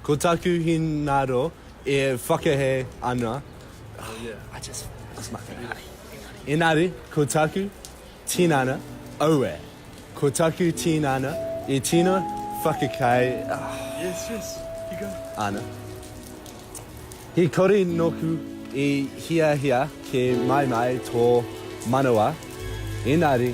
Ko taku hinaro e whakahē ana, engari ko taku tinana auē, ko taku tinana e tino whakakei ana. He kore nōku i hiahia kē maimai tō manawa, engari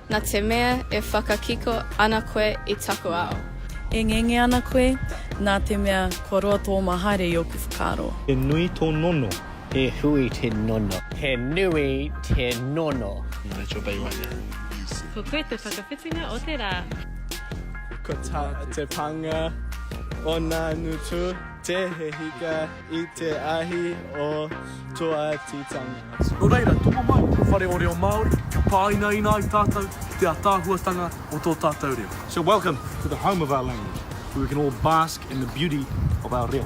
Na te mea e whakakiko ana koe i taku ao. E ngenge ana koe, na te mea kua roa tō ma haere i oku whakaaro. He nui tō nono. He hui te nono. He nui te nono. Rachel Bay right now. Ko koe te whakawhitinga o te rā. Ko ta te panga o na ngutu te he hika. I te ahi o Toatitanga. Nō reira, tomo mai te whare o reo Māori, kia pāinaina ai tātou ki te ātaahuatanga o tō tātou reo. So welcome to the home of our language, where we can all bask in the beauty of our reo.